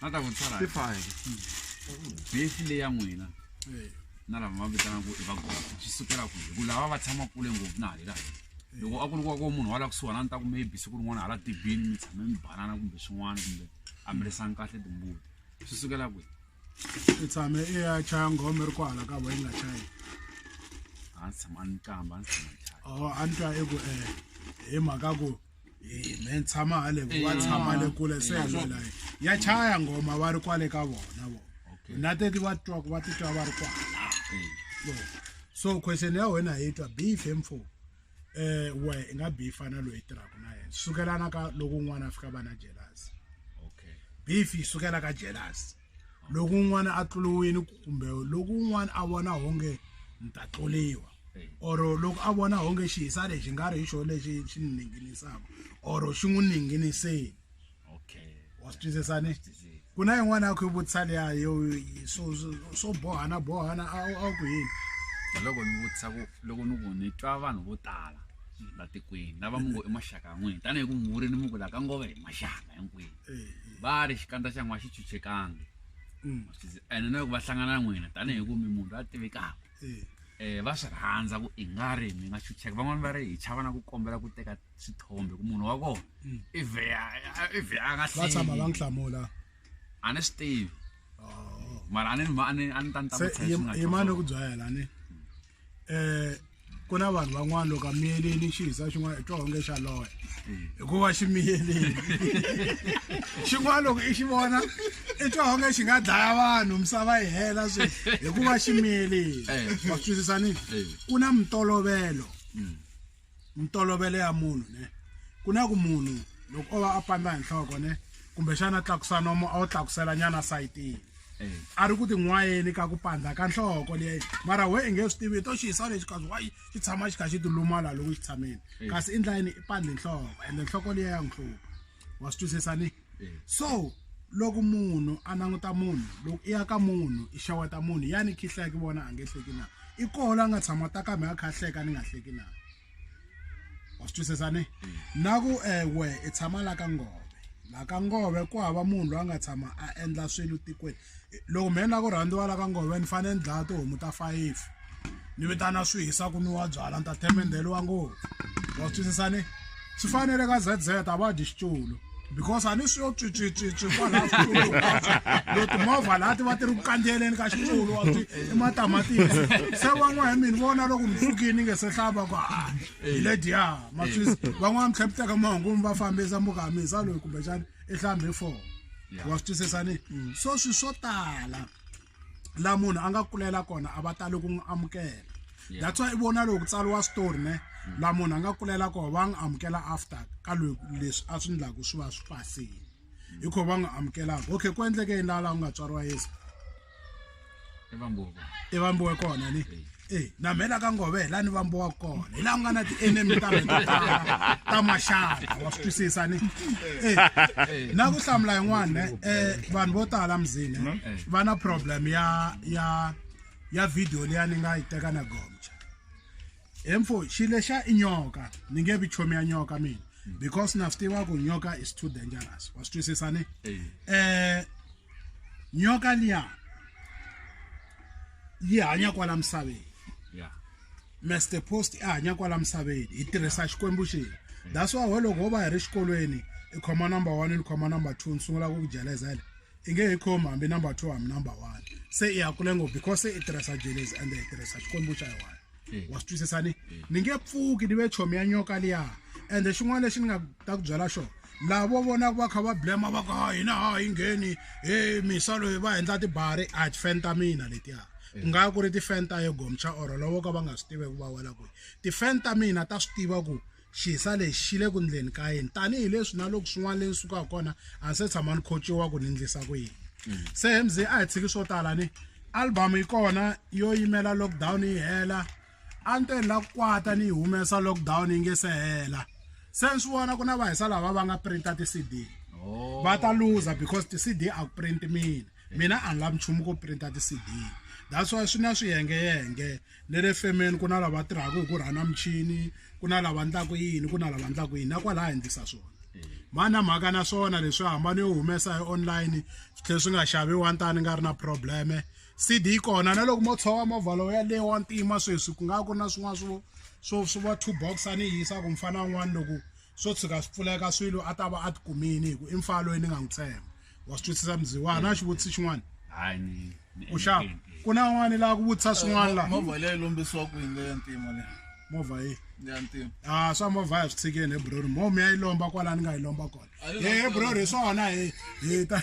na ta ku tsala hi file besi leya n'wina na lava va vitanaka i vagogo swi sukela ku hi ku lava va tshama kule ngopfu na halera loko a ku ri kwako munhu wa la kusuhana a ni ta ku maybe siku rin'wana hala tibini mi tshame mi banana kumbe swin'wana kumbe a mi risani kahle timbuti swi sukela kwihi i tshame i ya chaya ngome ri kwala ka voyi nga chayi a ndzi tshama ni kamba a ndzi tshama ni chaya o a ni twa i ku um hi mhaka ku me tshama hale wa tshama le kule se yalwela ya chaya ngoma va ri kwale ka vona vo na teti va twa ku va titwa va ri kwala so question ya wena hi twa beef mfo eh we i nga beefa na loyi tirhaka na yena sukelana ka loko un'wana a fika va na jealous okay beef yi sukela ka jealous loko un'wana a tluliwini kumbe loko un'wana a vona honge ni ta tluliwa or loko a vona honge xihisa lexi nga ri hi xona lexi xi ni ninginisaka or xi n'wi ninginiseni wa swi twisisani ku na yin'wana ya ku yi vutisa liya yo so so bohana bohana a wu ku yini loko ni vutisa ku loko ni ku ni twa vanhu vo tala la tikweni lava mi ngo i maxaka ya n'wini tanihi ku muvuri ni mi ku la ka ngova hi maxaka hinkwenu va ri xikandza xa n'wa xi chuchekangi mm. ene na loko va hlangana na n'wina tanihi ku mi munhu a tivekaka um va swi rhandza ku i nga ri mi nga chucheka van'wani va ri hi chava na ku kombela ku teka swithombe ku munhu wa kona mm. i vheya i vheya a nga hlvatshama va n'wi hlamula a ni swi tivi oh. mara a ni a ni a ni ta ni ta ku tshayimani ku byayela ni eh ku na vanhu van'wana loko a miyeleli xi hisa xin'wana i twa onge xa loya hikuva xi miyeleli xin'wana loko i xi vona i twa onge xi nga dlaya vanhu misava yi hela swi hikuva xi miyeleli wa swi twisisa ni ku na mitolovelo mintolovelo ya munhu ne ku na ku munhu loko o va a pandza hi nhloko ne kumbexana tlakusa nomo a wu tlakusela nyana sayitini eh. a ri ku tin'wayeni ka ku pandza ka nhloko leyi mara we i nge swi tivi to xi yisa lexi kazi wa xi tshama xi kha xi tilumala loko xi tshameni eh. kasi i ndlayini i pandzi nhloko ende nhloko leyi ya n'wi hlupha wa swi twisisa ni so loko munhu a languta munhu loko i ya ka munhu i xaweta munhu yani khihla ki vona a nge hleki na i koho la nga tshama ta kambe a kha hleka ni nga hleki na wa swi twisisa ni na ku ewe i tshama la ka ngove la ka ngove ku hava munhu loyi a nga tshama a endla swilo tikweni loko mehe ni lava ku rhandziwa la ka ngove ni fanele ni dlaya tihomu ta five ni vitana swi hisa ku nwiwa byala ni ta themendheliwa ngopfu wa twisisa ni swi fanele ka z z a va dyi xitulu because a ni swi yo tswitswitswitswi kwalaha xitulu lo timovha laha ti va ti ri ku kandziyeleni ka xitulu wa swi i matamatisi se van'wana hi mini vona loko mi pfukini nge se hlava ku ha hi lediya ma swisi van'wana mi tlhe mi teka mahungu mi va fambisa mbuka ha mi hisa loyi kumbexani i hlambe four Yeah. wa swi twisisa ni so swi swo tala la munhu a nga kulela kona a va tali ku n'wi amukela Yeah. that's why i vona loko ku tsariwa story ne la munhu a nga kulela kona va n'wi amukela after ka lo- leswi a swi ndlaku swi va swi pasile hi kho va n'wi amukelaka okay ku endleke yini laha laha ku nga tswariwa yesu i vambuwa kona i vambuwa kona ni e na mhela ka ngove hi la ni vambuwa kona hi laha ku nga na ti-enemy ta ta maxaka wa swi twisisa ni e na ku hlamula yin'wana um vanhu vo tala mzini va na problem ya ya ya video leya ni nga yi teka na gomcha he mfo xi lexa i nyoka ni nge vi chomi ya nyoka mina hmm. because na swi tiva ku nyoka is too dangerous wa swi twisisa ni um nyoka liya yi hanya kwala misaveni master post i hanya kwala misaveni hi tirhisa xikwembu xini that's why loko ho va hi ri xikolweni i khoma number one ni khoma number two ni sungula ku ku jelezela i nge hi khomi hambi number two hambi number one se i ya kule ngopfu because se i tirhisa jelezi ende hi tirhisa xikwembu xa yona Eh. wa swi twisisa ni ni nge pfuki ni ve chomi ya nyoka liya ende xin'wana lexi ni nga ta ku byela xona laha vo vonaka va kha va blema va ku ha hina ha yi ngheni he misa loyi va endla tibari a tifeni ta mina letiya ku eh. nga ku ri tifeni ta yegomcha or lovo ka va nga swi tivi ku va wela kwihi tifeni ta mina ta swi tiva ku Xisa lexi xi le ku ndleni ka yini tanihileswi na loko swin'wana leyi ni sukaka kona a ni se tshama ni khochiwa ku ni ndlisa ku yini mm. se hi mze a hi tshiki swo tala ni album yi kona yo yimela lockdown yi hela a ni te ni la ku kwata ni yi humesa lockdown yi nge se hela se ni swi vona ku na vahisa lava va nga printa ti-cd oh. va ta luza because ti-cd a ku print mina mina a ni lavi nchumu ku printa ti-cd that's why swi na swiyengeyenge Ne le femeni ku na lava tirhaka hi ku rhana michini ku na lava ndlaku yini ku na lava ndlaku yini na kwala ha endlisa swona mani na mhaka na swona leswi hambana yo humesa hi online swi tlhela swi nga xaviwa ntani nga ri na probleme cd yi kona na loko mo tshova movha lowu yaleyo wa ntima sweswi ku nga ku na swin'wana swo swo swi va two box a ni yisa ku mufana un'wana loko swo tshuka swi pfuleka swilo a ta va a tikumini hi ku i mfana loyi ni nga n'wi tshemba wa swi twisisa mziwana na xivutisi xin'wana hayi ni ni u xava engeteni. ku na un'wana laha ku vutisa swin'wana laha movha leyi lombisiwa ku yini leya ntima leyi movha yi leya ntima a swa movha ya swi tshikeni he brori mo mi ya yi lomba kwala ni nga yi lomba kona Ayo, he brori hi swona hi hi ta